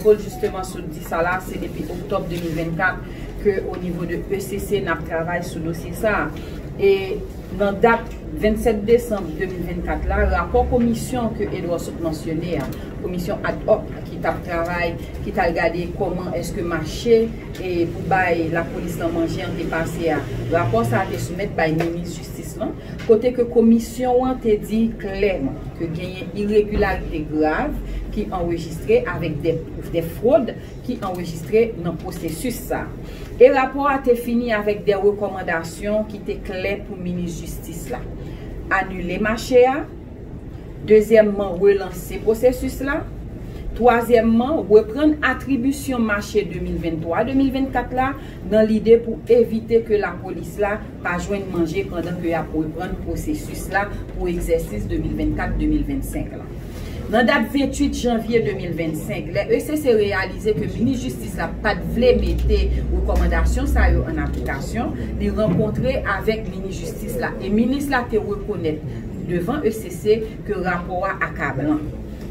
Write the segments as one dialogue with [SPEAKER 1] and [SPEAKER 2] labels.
[SPEAKER 1] Claude justement sot di sa la, se depi octobre 2024 ke au niveau de ECC nap travay sou dosye sa a. E nan dat 27 decembre 2024 la, rapò komisyon ke Edouard sot mansyone a, komisyon ad hoc ki tap travay, ki tal gade koman eske mache pou bay lapolis lan manje an te pase a, rapò sa a te soumèt bay minis jistis lan. kote ke Komisyon an te di klèman ke genyen iregilarite grav ki anrejistre avèk dè fwod ki anrejistre nan pwosesis sa a. E rapò a te fini avèk dè rekòmandasyon ki te klè pou Minis Jistis la, anile mache a, dezyèmman relanse pwosesis la, twazyèmman reprann atribisyon mache 2023-2024 la nan lide pou evite ke lapolis la pa jwenn manje pandan ke yap reprann pwosesis la pou egzèsis 2024-2025 la. Nan dat 28 janvye 2025, lè ECC reyalize ke minis jistis la pat vle mete rekòmandasyon sa yo an aplikasyon, li rankontre avèk minis jistis la e minis la te rekonèt devan ECC ke rapò a akablan.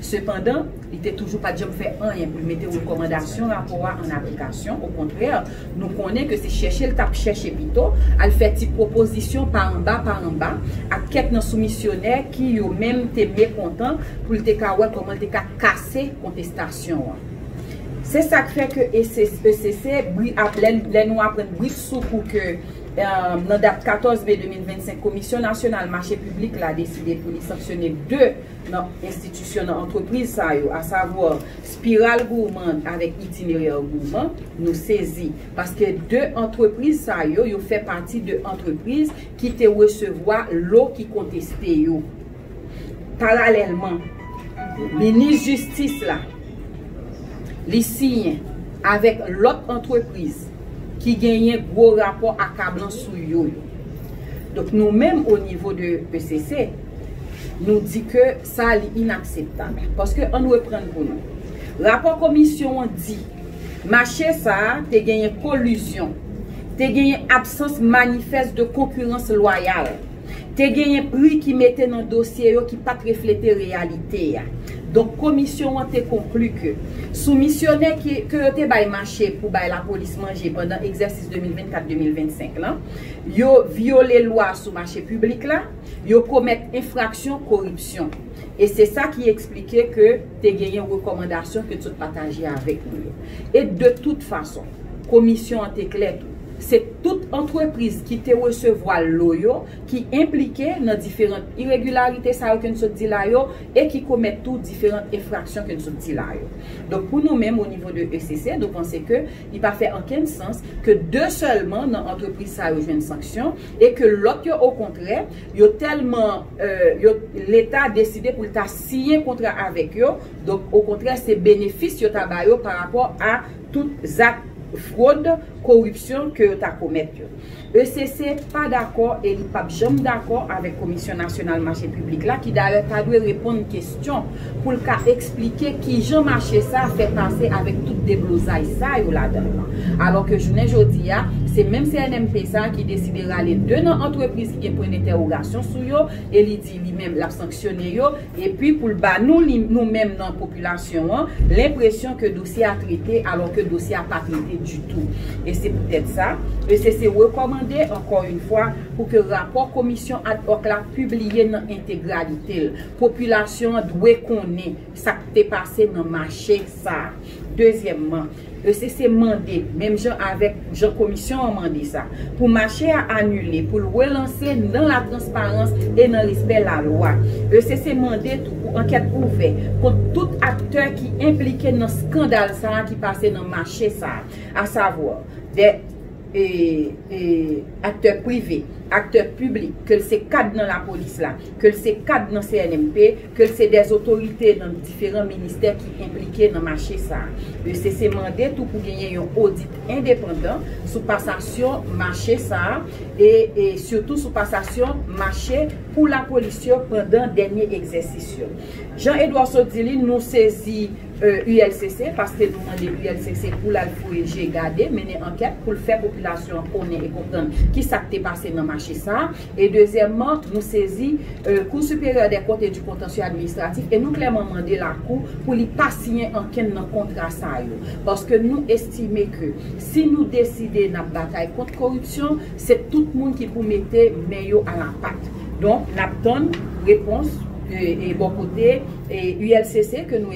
[SPEAKER 1] Sepandan, Li te toujou pa t janm fè anyen pou l mete rekòmandasyon rapò a an aplikasyon, okontrè, nou konnen ke se chèche l t ap chèche pito, al fè ti pwopozisyon pa anba pa anba ak kèk nan soumisyonè ki, yo menm, te mekontan pou l te ka wè kòman l te ka kase kontestasyon an. Se sa k fè ke ECC, bri ap, lè nou aprann bripsoukou ke, nan dat 14 me 2025, Komisyon Nasyonal Mache Piblik la deside pou li sanksyone 2 nan enstitisyon, nan antrepriz sa yo, a savwa Spiral Gourmand avèk Itinéraire Gourmand, nou sezi. Paske 2 antrepriz sa yo, yo fè pati de antrepriz ki te resevwa lo ki konteste yo. Paralèlman, Minis Jistis la, li siyen avèk lòt antrepriz ki genyen gwo rapò akablan sou yo yo. Donk nou menm o nivo de ECC, Nou di ke sa a li inakseptab. Paske ann reprann pou nou. Rapò komisyon an di, mache sa a te genyen kolizyon, te genyen absans manifès de konkirans lwayal, te genyen pri ki mete nan dosye yo ki pat reflete reyalite a. Donk komisyon an te konkli ke soumisyonè ki ke yo te bay mache pou bay lapolis manje pandan egzèsis 2024-2025 lan, yo vyole lwa sou mache piblik la, Yo komèt enfraksyon koripsyon. E se sa ki eksplike ke te genyen rekòmandasyon ke t sot pataje avèk nou yo. E de tout fason, Komisyon an te klè tou, se tout antrepriz ki te resevwa lo yo ki enplike nan diferant iregilarite sa yo ke n sot di la yo e ki komèt tou diferant enfraksyon ke n sot di la yo. Donk pou nou menm onivo de ECC, nou panse ke li pa fè ankenn sans ke de sèlman nan antrepriz sa yo jwenn sanksyon, e ke lòt yo okontrè yo tèlman yo leta deside pou l ta siyen kontra avèk yo donk okontrè se benefis yo ta ba yo pa rapò a tout zak fwod koripsyon ke yo ta komèt yo ECC pa dakò e li pap janm dakò avèk komisyon nasyonal mache piblik la ki dayè ta dwe reponn kestyon pou l ka eksplike kijan mache sa fè pase avèk tout deblozay sa yo ladan l lan. Alò ke jounen jodi a, se menm CNMP sa ki deside rale 2 nan antrepriz ki gen pwen dentèwogasyon sou yo e li di li menm l ap sanksyone yo, epi pou l ba nou li nou menm nan popilasyon an, lenpresyon ke dosye a trete alò ke dosye a pa trete ditou. E se poutèt sa, ECC rekòmande, ankò yn fwa, pou ke rapò komisyon ad hoc la pibliye nan entegralite l. Popilasyon an dwe konnen sa k te pase nan mache sa a. Dezyèmman, ECC mande, menm jan avèk jan Komisyon an mande sa, pou mache a anile pou l relanse nan latransparans e nan respè lalwa. ECC mande tou pou ankèt ouvè kont tout aktè ki enplike nan skandal sa a ki pase nan mache sa a, asavwa, 2. aktè prive, aktè piblik, ke l se kad nan lapolis la, ke l se kad nan CNMP, ke l se dè zotorite nan diferan ministè ki enplike nan mache sa a. ECC mande tou pou genyen yon odit endepandan sou pasasyon mache sa a e sitou sou pasasyon mache pou lapolis yo pandan dènye egzèsis yo. Jean Edouard Sodili, nou sezi ULCC, paske nou mande ULCC pou l al fouye je, gade, mennen ankèt pou l fè popilasyon an konnen e konprann ki sa k te pase nan mache sa a. E dezyèmman, nou sezi Cour supérieure des comptes et du contentieux administratif e nou klèman mande lakou pou li pa siyen ankenn nan kontra sa yo. Paske nou estime ke si nou deside n ap batay kont koripsyon, se tout moun ki pou mete men yo a la pat. Donk, n ap tann repons bò kote. ULCC ke nou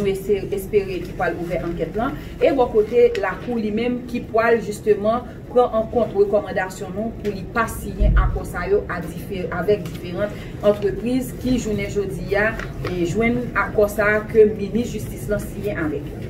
[SPEAKER 1] espere ki pwal ouvè ankèt lan e bò kote lakou li menm ki pwal jisteman pran an kont rekòmandasyon nou pou li pa siyen akò sa yo avèk diferant antrepriz ki jounen jodi a jwenn akò sa ke minis jistis lan siyen avèk yo.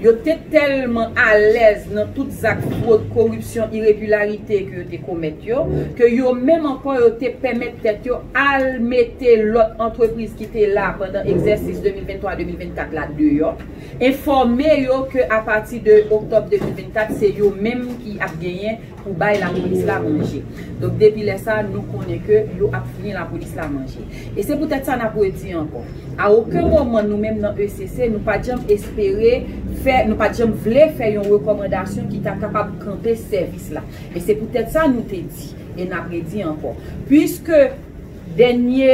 [SPEAKER 1] Yo te tèlman alèz nan tout zak fwod, koripsyon, iregilarite ke yo te komèt yo, ke yo menm ankò yo te pèmèt tèt yo al mete lòt antrepriz ki te la pandan egzèsis 2023-2024 la deyò, enfòme yo ke apati de oktòb 2024 se yo menm ki ap genyen pou bay lapolis la manje. Donk depi lè sa a nou konnen ke yo ap fouye lapolis la manje. E se poutèt sa n ap redi ankò, a oken moman nou menm nan ECC nou pa t janm espere fè, nou pa t janm vle fè yon rekòmandasyon ki ta kapab kanpe sèvis la. E se poutèt sa nou te di, e n ap redi ankò, puiske dènye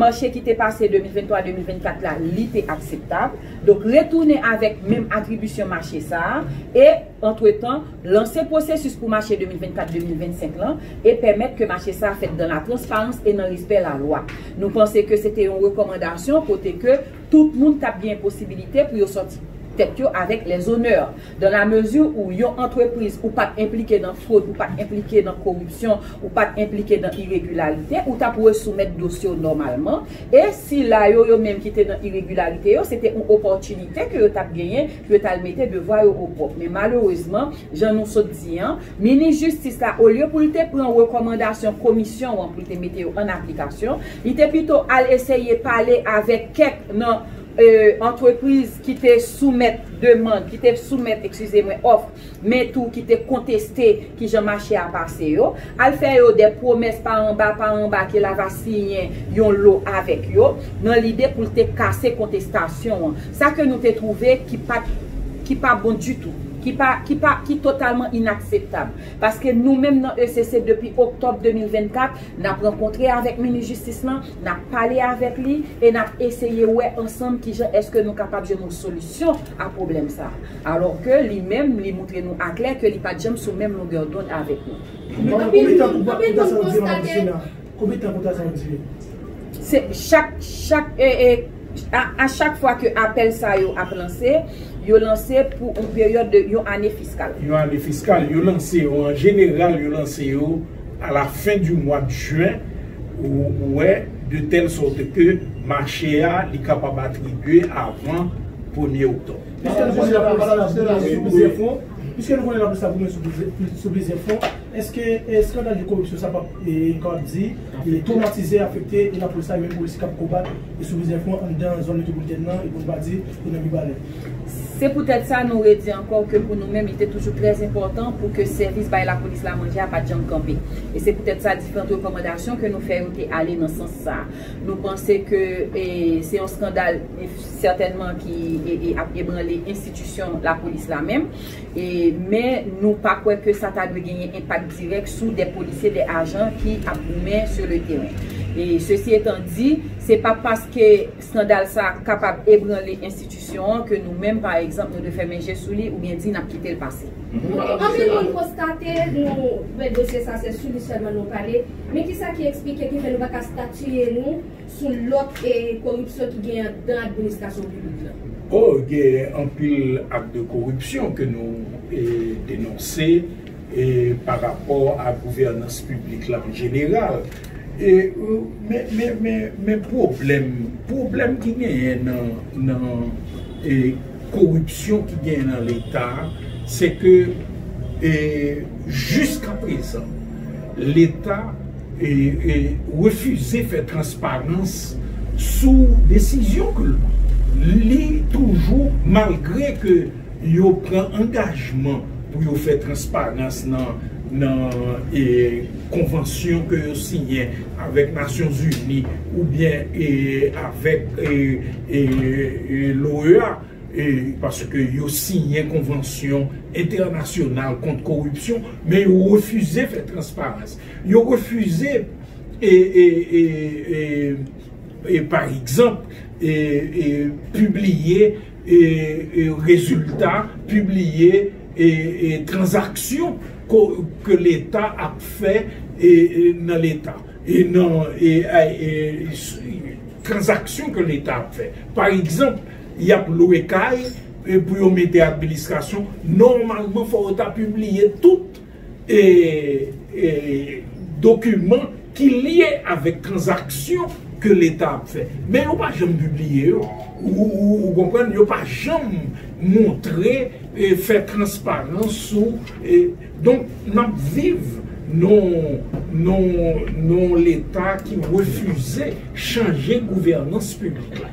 [SPEAKER 1] mache ki te pase 2023-2024 la li te akseptab, donk retounen avèk menm atribisyon mache sa a, e. antretan, lanse pwosesis pou mache 2024-2025 lan e pèmèt ke mache sa fèt dan la transparans e nan respè la lwa. Nou panse ke se te yon rekòmandasyon kote ke tout moun tap genyen posibilite pou yo sòti tèt yo avèk les honneurs. Dan la mezi ou yon antrepriz ou pat enplike nan fwod, ou pat enplike nan koripsyon, ou pat enplike nan iregilarite, ou tap resoumèt dosye w nòmalman e sila yo yo menm ki te nan iregilarite yo se te yon opòtinite ke yo tap genyen pou yo t al mete devwa yo opwòp men malerezman jan nou sot di an minis jistis la olye pou l te pran rekòmandasyon komisyon an pou l te mete yo an aplikasyon li te pito al eseye pale avèk kèk nan antrepriz ki te soumèt demand ki te soumèt ekskize mwen òf men tou ki te konteste ki jan mache a pase yo, al fè yo dè pwomès pa anba pa anba ke la va siyen yon lo avèk yo, nan lide pou l te kase kontestasyon an. Sa ke nou te twouve ki pa t, ki pa bon ditou, ki pa, ki pa, ki totalman inakseptab. Paske nou menm nan ECC depi oktòb 2024, n ap rankontre avèk Minis Jistis lan, n ap pale avèk li e n ap eseye wè ansanm ki jan èske nou kapab jwenn yon solisyon a pwoblèm sa a. Alò ke li menm li moutre nou aklè ke li pat janm sou menm longè dond avèk nou. Mama konbyen tan pou ta sa ou diye mama Christina
[SPEAKER 2] konbyen tan pou ta sa ou diye. Se
[SPEAKER 1] chak chak a chak fwa ke apèl sa yo ap lanse, yo lanse pou yon peryòd de yon ane fiskal. Yon ane fiskal,
[SPEAKER 2] yo lanse yo an jeneral yo lanse yo a la fen di mwad jen ou wè de tèl sòt ke mache a li kapab atribye avan premye oktòb. Piske nou konnen lapolis la boule sou plizyè fwon, piske nou konnen lapolis la boule sou plizyè fwon, eske eskandal de koripsyon sa pap, nou kapab di, twomatize, afekte lapolis la e menm polisye k ap konbat sou plizyè fwon anndan zòn metwopolitèn nan e pou nou pa di e nan Mibalè? Se poutèt
[SPEAKER 1] sa nou redi ankò ke pou nou menm li te toujou trè enpòtan pou ke sèvis bay lapolis la manje a pat janm kanpe. E se poutèt sa diferant rekòmandasyon ke nou fè yo te ale nan sans sa. Nou panse ke se yon skandal. sètènman ki ap ebranle enstitisyon lapolis la menm, men nou pa kwè ke sa ta dwe genyen enpak dirèk sou de polisye, de ajan ki ap goumen sou le teren. Sesi etan di, se pa paske skandal sa kapab ebranle enstitisyon an ke nou menm pa egzanp nou dwe fèmen je sou li oubyen di nap kite l pase. Anpil moun
[SPEAKER 3] konstate nou wè dosye sa se sou li sèlman nou pale, men kisa ki eksplike ki fè nou pa ka statiye nou? sou lòt koripsyon ki genyen anndan
[SPEAKER 2] administrasyon piblik la. O, genyen anpil ak de koripsyon ke nou denonse pa rapò a gouvènans piblik la an jeneral. Men pwoblèm, pwoblèm ki genyen nan koripsyon ki genyen nan Leta, se ke jiska prezan Leta,
[SPEAKER 4] refize fè transparans sou desizyon ke li toujou malgre ke yo pran angajman pou yo fè transparans nan konvansyon ke yo siyen avèk Nasyon Zini oubyen avèk l'OEA paske yo siyen konvansyon entènasyonal kont koripsyon men yo refize fè transparans. Yo refize pa egzanp pibliye rezilta, pibliye tranzaksyon ke leta ap fè nan leta, tranzaksyon ke leta ap fè. Pa egzanp, y ap lwe kay pou yo mete administrasyon, nòmalman fò yo ta pibliye tout. dokiman ki lye avèk tranzaksyon ke leta ap fè. Men yo pa janm pibliye yo. Ou konprann? Yo pa janm montre, fè transparans sou. Donk, n ap viv nan yon leta ki refize chanje gouvènans piblik la.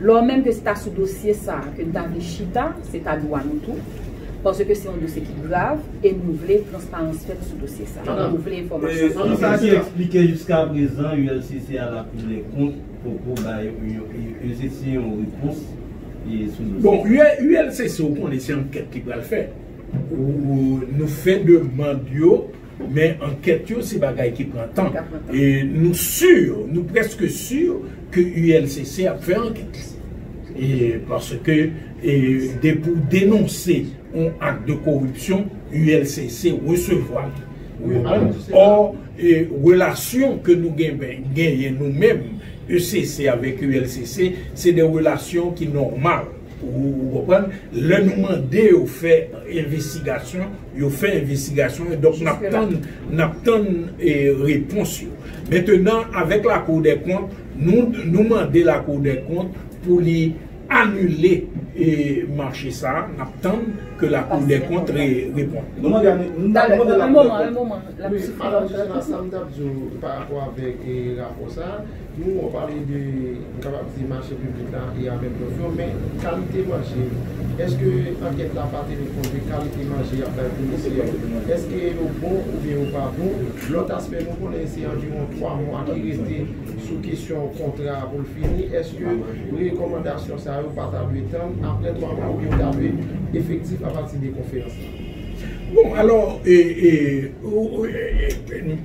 [SPEAKER 1] Lò menm ke se ta sou dosye sa a ke n ta vle chita, se ta dwa nou tou, paske se yon dosye ki grav e nou vle transparans fèt sou dosye sa a. Nou vle enfòmasyon sou dosye sa a. Ann sa ki eksplike
[SPEAKER 5] jiskaprezan ULCC al ap ouvè kont poko bay ULCC yon repons sou
[SPEAKER 4] dosye sa a. Bon, ULCC ou konnen se ankèt li pral fè. Nou fè demand yo. Men ankèt yo se bagay ki pran tan. E nou sur, nou preske sur ke ULCC ap fè ankèt li. E paske depi w denonse yon ak de koripsyon, ULCC resevwa li. Ou konprann? Or, relasyon ke nou genyen nou menm, UCC avèk ULCC, se de relasyon ki nòmal. Ou konprann? Lè nou mande yo fè envestigasyon, yo fè envestigasyon yo. Donk, n ap tann, n ap tann repons yo. Mentenan, avèk Lakou dèkont, nou, nou mande Lakou dèkont pou li anile mache sa a. N ap tann ke Lakou dèkont reponn. Nou mande a, nou mande Lakou dèkont.
[SPEAKER 1] An moman, an moman. Wi, Madam Joseph, sa m t ap
[SPEAKER 6] di w parapò avèk rapò sa a. Nou wè w pale de, m kapab di mache piblik la e apèl dòf yo, men kalite manje, èske ankèt la pa teni kont de kalite manje y ap bay polisye yo? Èske yo bon oubyen yo pa bon? Lòt aspè, nou konnen se anviwon 3 mwa ki rete sou kesyon kontra a pou l fini, èske rekòmandasyon sa yo pa ta dwe tann aprè 3 mwa oubyen yo ta dwe efektif apati de konferans la? Bon,
[SPEAKER 4] alò, e, e, ou, e, e, e.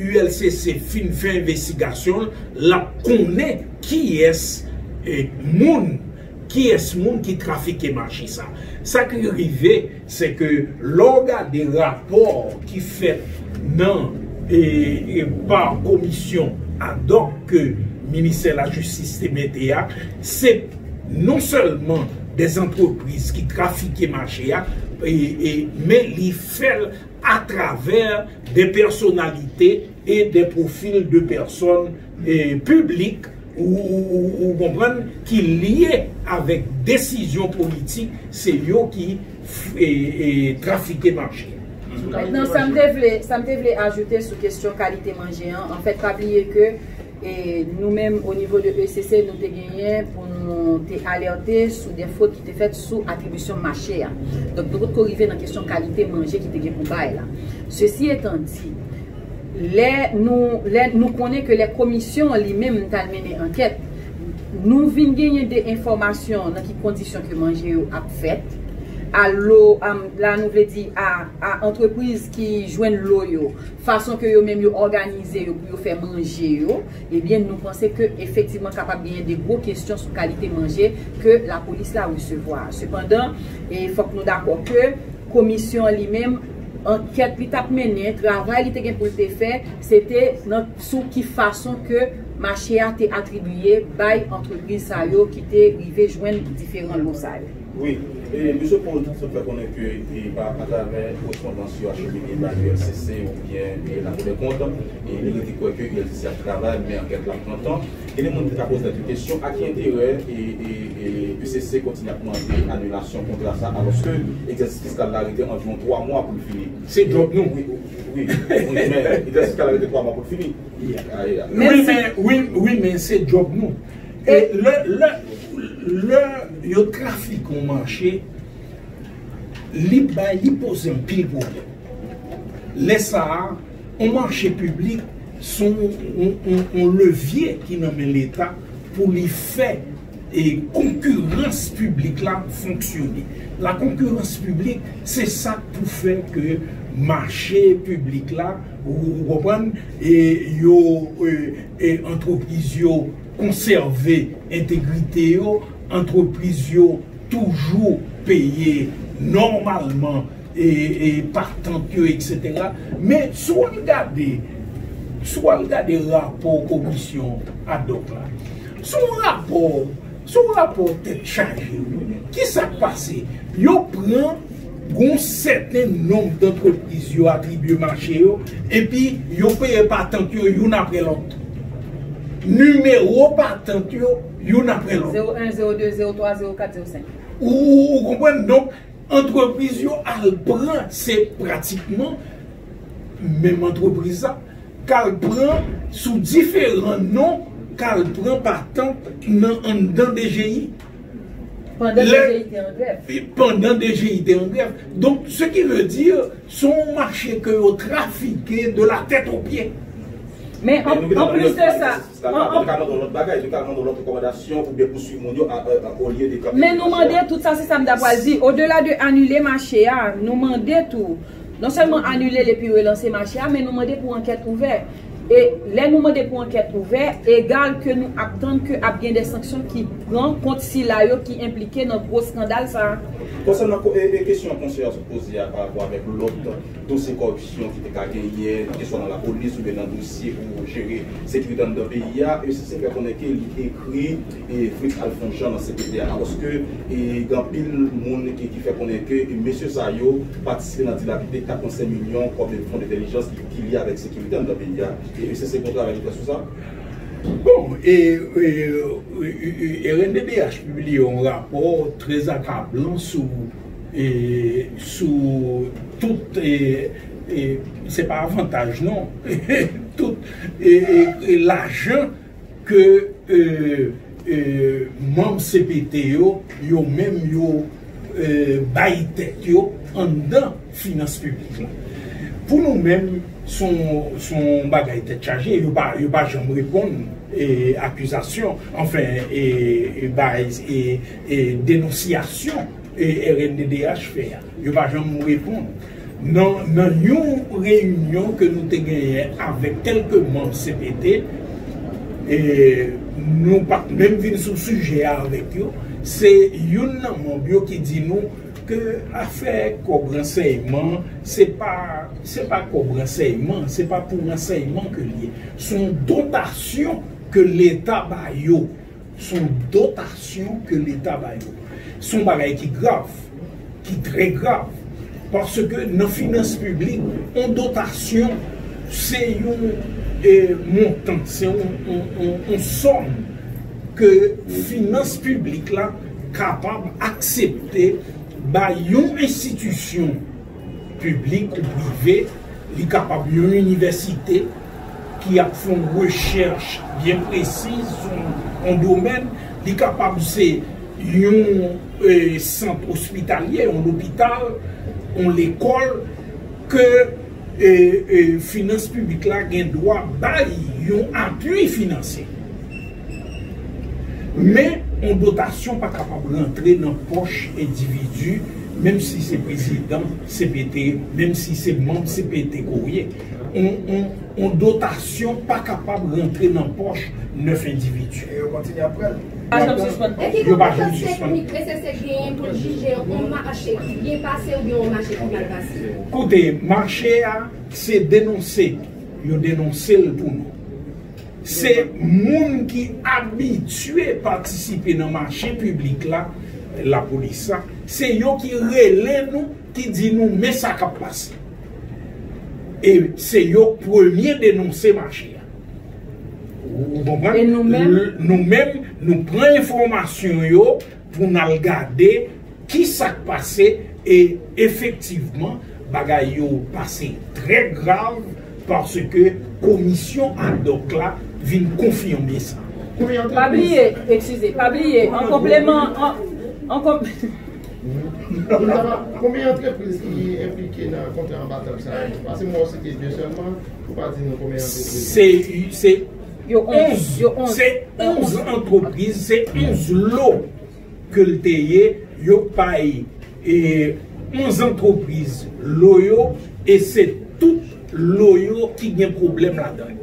[SPEAKER 4] ULCC fin fè envestigasyon l, l ap konnen kiyès moun, kiyès moun ki trafike mache sa. Sa ki rive, se ke lè w gade rapò ki fèt nan pa komisyon adòk ke ministè lajistis te mete a, se non sèlman dè antrepriz ki trafike mache a, men li fè l a travè des personnalités et des profils de personnes publiques ou konprann ki lye avèk desizyon politik se yo ki trafike manje. Mètnan
[SPEAKER 1] sa m te vle ajoute sou kesyon kalite manje an, anfèt pa bliye ke E nou menm o nivo de ECC nou te genyen pou nou te alète sou de fwod ki te fèt sou atribisyon mache a. Donk nou potko rive nan kesyon kalite manje ki te gen pou bay la. Sesi etan di, lè nou lè nou konnen ke lè komisyon an li menm t al mennen ankèt, nou vin genyen de enfòmasyon nan ki kondisyon ke manje yo ap fèt, a lo, la nou vle di a antrepriz ki jwenn lo yo. fason ke yo menm yo òganize yo pou yo fè manje yo, ebyen nou panse ke efektivman kapab genyen de gwo kesyon sou kalite manje ke lapolis la resevwa a. Sepandan, e fòk nou dakò ke komisyon an li menm, ankèt li t ap mennen, travay li te gen pou l te fè, se te nan sou ki fason ke mache a te atribiye bay antrepriz sa yo ki te rive jwenn diferan lo sa yo. Wi,
[SPEAKER 7] e Misye Paul sot fè konnen ke e pa atravè korespondans yo achemine bay ULCC oubyen e La Cour des Comptes, e li rete kwè ke ULCC ap travay men ankèt la pran tan. Genyen moun ki ka poze tèt yo kesyon a ki enterè e e e UCC kontinye ap mande anilasyon kontra sa alòske egzèsis fiskal la rete anviwon 3 mwa pou l fini. Se djòb nou. Wi,
[SPEAKER 4] wi,
[SPEAKER 7] wi men egzèsis fiskal la rete 3 mwa pou l fini. Wi men, wi, wi
[SPEAKER 4] men se djòb nou. E lè lè lè yo trafike yon mache li bay li poze anpil pwoblèm. Lè sa a yon mache piblik son yon yon yon levye ki nan men leta pou li fè e konkirans piblik la fonksyone. La konkirans piblik se sa k pou fè ke mache piblik la ou konprann e yo e antrepriz yo konsève entegrite yo, antrepriz yo toujou peye nòmalman patant yo eksetera. Men si w al gade, si w al gade rapò komisyon ad hoc la, se yon rapò, se yon rapò tèt chaje wi. Ki sa k pase? Yo pran. Gon sèten nonb dantrepriz yo atribye mache yo epi yo peye patant yo youn apre lòt. Nimewo patant yo youn apre lòt. Zewo 1, zewo 2,
[SPEAKER 1] zewo 3, zewo 4, zewo 5. Ou konprann?
[SPEAKER 4] Donk, antrepriz yo al pran, se pratikman menm antrepriz la, k al pran sou diferan non, k al pran patant nan anndan DGI. Pandan DGI te an grèv. Donk, se ki vle di, se yon mache ke yo trafike de la tèt o pye. Men,
[SPEAKER 1] an plis de sa. Yo ka mande yon lòt bagay. Yo ka mande yon lòt rekomandasyon pou byen pouswiv moun yo olye de kanpe. Men nou mande tout sa, se sa m ta pral di. O dela de anile mache a, nou mande tou, non sèlman anile l epi relanse mache a, men nou mande pou ankèt ouvè. E lè nou mande pou ankèt ouvè, egal ke nou ap tann ke ap gen de sanksyon ki pran kont sila yo ki enplike nan gwo skandal sa a. Konsènan
[SPEAKER 7] kesyon konseye a sot poze a parapò avèk lòt dosye kòripsyon ki te ka genyen, keswa nan lapolis oubyen nan dosye pou jere sekirite anndan peyi a, uscis fè konnen ke li ekri Fritz Alphonse Jean nan CPT a, alòske gen anpil moun ki fè konnen ke mesye sa yo patisipe nan dilapide 85 milyon kòb fon entèlijans. ki lye avèk sekirite anndan peyi a. E uscg gon travay li fè sou sa? Bon,
[SPEAKER 4] e rnddh pibliye yon rapò trè akablan sou e sou tout e e se pa avantaj non tout e e lajan Ke manm cpt yo, yo menm yo bay tèt yo anndan finans piblik la. Pou nou menm, s on bagay tèt chaje, yo pa janm reponn akizasyon, anfen bay denonsyasyon. rnddh fè a. Yo pa janm reponn. Nan nan yon reyinyon ke nou te genyen avèk kèlke manm cpt, nou pa t menm vin sou sijè a avèk yo, se youn nan manm yo ki di nou ke afè kòb ransèyman, se pa se pa kòb ransèyman, se pa pou ransèyman ke l ye. S on dotasyon ke leta ba yo. Son dotasyon ke leta ba yo. Son bagay ki grav, ki trè grav. Paske nan finans piblik, on dotasyon se yon montan, se yon sòm ke finans piblik la kapab aksepte bay yon enstitisyon. Piblik ou prive, li kapab yon inivèsite ki ap fè yon rechèch byen presiz sou yon domèn, li kapab se yon sant ospitalye, yon lopital, yon lekòl ke finans piblik la gen dwa bay yon apui finansye. Men, yon dotasyon pa kapab rantre nan pòch endividi, menm si se prezidan cpt, menm si se manm cpt ke w ye. Yon dotasyon pa kapab rantre nan pòch 9 endividi. E yo kontinye ap
[SPEAKER 8] pran l. Pa janm sispann pran l. E
[SPEAKER 3] ki konpetans teknik NCC genyen pou l jije yon mache ki byen pase oubyen yon mache ki mal pase? Koute, mache
[SPEAKER 4] a se denonse. Yo denonse l pou nou. Se moun ki abitye patisipe nan mache piblik la, lapolis la, se yo ki rele nou, ki di nou men sa k ap pase. E se yo k premye denonse mache a. Ou konprann?
[SPEAKER 1] Nou menm, nou
[SPEAKER 4] pran enfòmasyon yo. pou n al gade ki sa k pase e efektivman bagay yo pase trè grav paske komisyon adòk la vin konfime sa. Pa bliye,
[SPEAKER 1] eskize, pa bliye an konpleman, an konpleman.
[SPEAKER 6] Konbyen antrepriz ki enplike nan kontra anba tab sa yo? Pase m wè w site 2 sèlman, ou pa di nou konbyen antrepriz. Se. 11
[SPEAKER 4] se 11 antrepriz se 11 lo ke l te ye yo bay 11 antrepriz lo yo e se tout lo yo ki gen pwoblèm
[SPEAKER 8] ladan l.